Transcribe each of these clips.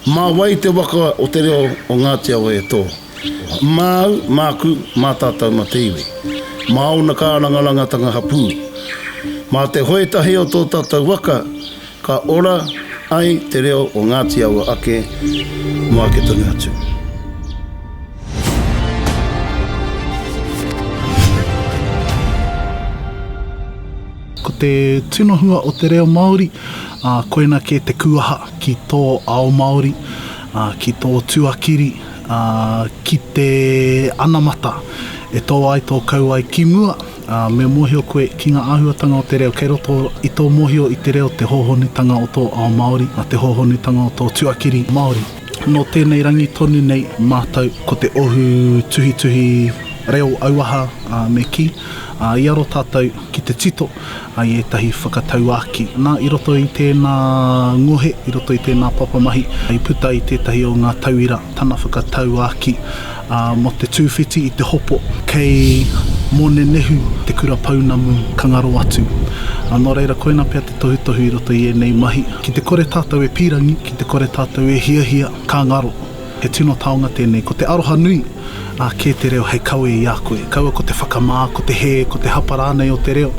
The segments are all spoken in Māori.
Mā wai te waka o te reo o Ngāti Awa e tō? Māu, māku, mā tātou, mā te iwi. Mā ōna kārangarangatanga hapū. Mā te hoe tahi o tō tātou waka, ka ora ai te reo o Ngāti Awa ake mō ake tonu atu. Ko te tino hua o te reo Māori, ā, koina kē te kūaha ki tō ao Māori, ā, ki tō tuakiri, ā, ki te anamata e tō ai, tō kau ai ki mua, ā, me mōhio koe ki ngā āhuatanga o te reo kei roto i tō mōhio i te reo, te hōhonutanga o tō ao Māori, ā, te hōhonutanga o tō tuakiri Māori. Nō tēnei rangi tonu nei mātou ko te ohu tuhituhi reo auaha me kī, i aro tātou ki te tito i ētahi whakatauākī. Nā, i roto i tēnā ngohe, i roto i tēnā papamahi, i puta i tētahi o ngā tauira tana whakatauākī. Ā, mō te tūwhiti i te hopo, kei Mōnenehu te kura pounamu ka ngaro atu. Ā, nō reira, koina pea te tohutohu i roto i ēnei mahi. Ki te kore tātou e pīrangi, ki te kore tātou e hiahia, ka ngaro. He tino taonga tēnei. Ko te aroha nui, ā, kē te reo hei kawe i a koe. Kaua ko te whakamā, ko te hē, ko te hapa rānei o te reo.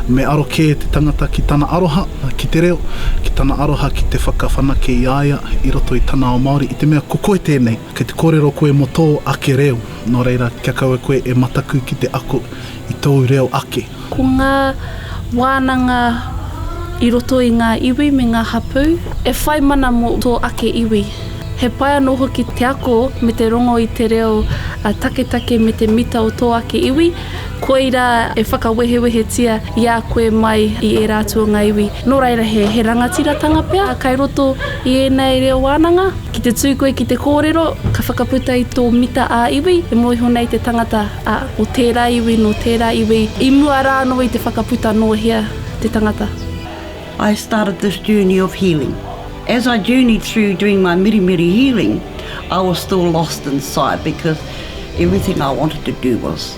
Me aro kē te tangata ki tana aroha ki te reo, ki tana aroha ki te whakawhanake i a ia i roto i tana ao Māori, i te mea ko koe tēnei. Kei te kōrero koe mō tō ake reo, nō reira, kia kaua koe e mataku ki te ako i tōu reo ake. Ko ngā wānanga i roto i ngā iwi me ngā hapū e whai mana mō tō ake iwi. He pai anō hoki te ako me te rongo i te reo taketake me te mita o tō ake iwi, koirā e whakawehewehetia i a koe mai i ērā atu o ngā iwi. Nō reira, he rangatiratanga pea kei roto i ēnei reo wānanga. Ki te tū koe ki te kōrero, ka whakaputa i tō mita ā-iwi, e mōiho nei te tangata, ā, o tērā iwi, nō tērā iwi, i mua rā anō i te whakaputa nō hea te tangata. I started this journey of healing. As I journeyed through doing my mirimiri healing, I was still lost inside because everything I wanted to do was.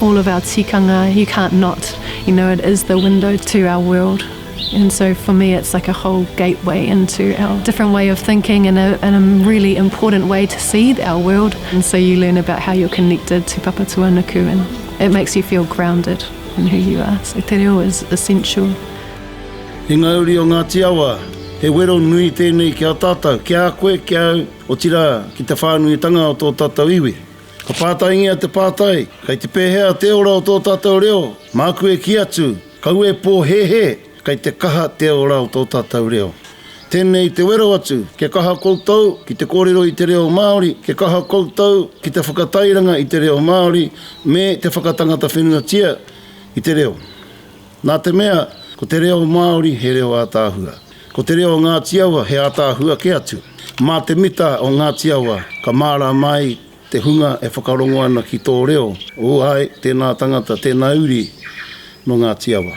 All of our tikanga you can't not, you know it is the window to our world and so for me it's like a whole gateway into our different way of thinking and a really important way to see our world and so you learn about how you're connected to Papatūānuku and it makes you feel grounded in who you are, so te reo is essential. He ngauri o Ngāti Awa, he wero nui tēnei ki a tātou, ki a koe, ki a au, otirā ki te whānuitanga o tō tātou iwi. Ka pātaingia te pātai, Kei te pēhea te ora o tō tātou reo? Māku e kī atu, Kau e pōhēhē, kei te kaha te ora o tō tātou reo. Tēnei te wero atu, kia kaha koutou ki te kōrero i te reo Māori, kia kaha koutou ki te whakatairanga i te reo Māori me te whakatangata whenuatia i te reo. Nā te mea, ko te reo Māori he reo ātaahua. Ko te reo o Ngāti Awa he ātaahua kē atu. Mā te mita o Ngāti Awa ka mārāma ai te hunga e whakarongo ana ki tō reo, ū āe, tēnā tangata, tēnā uri nō Ngāti Awa.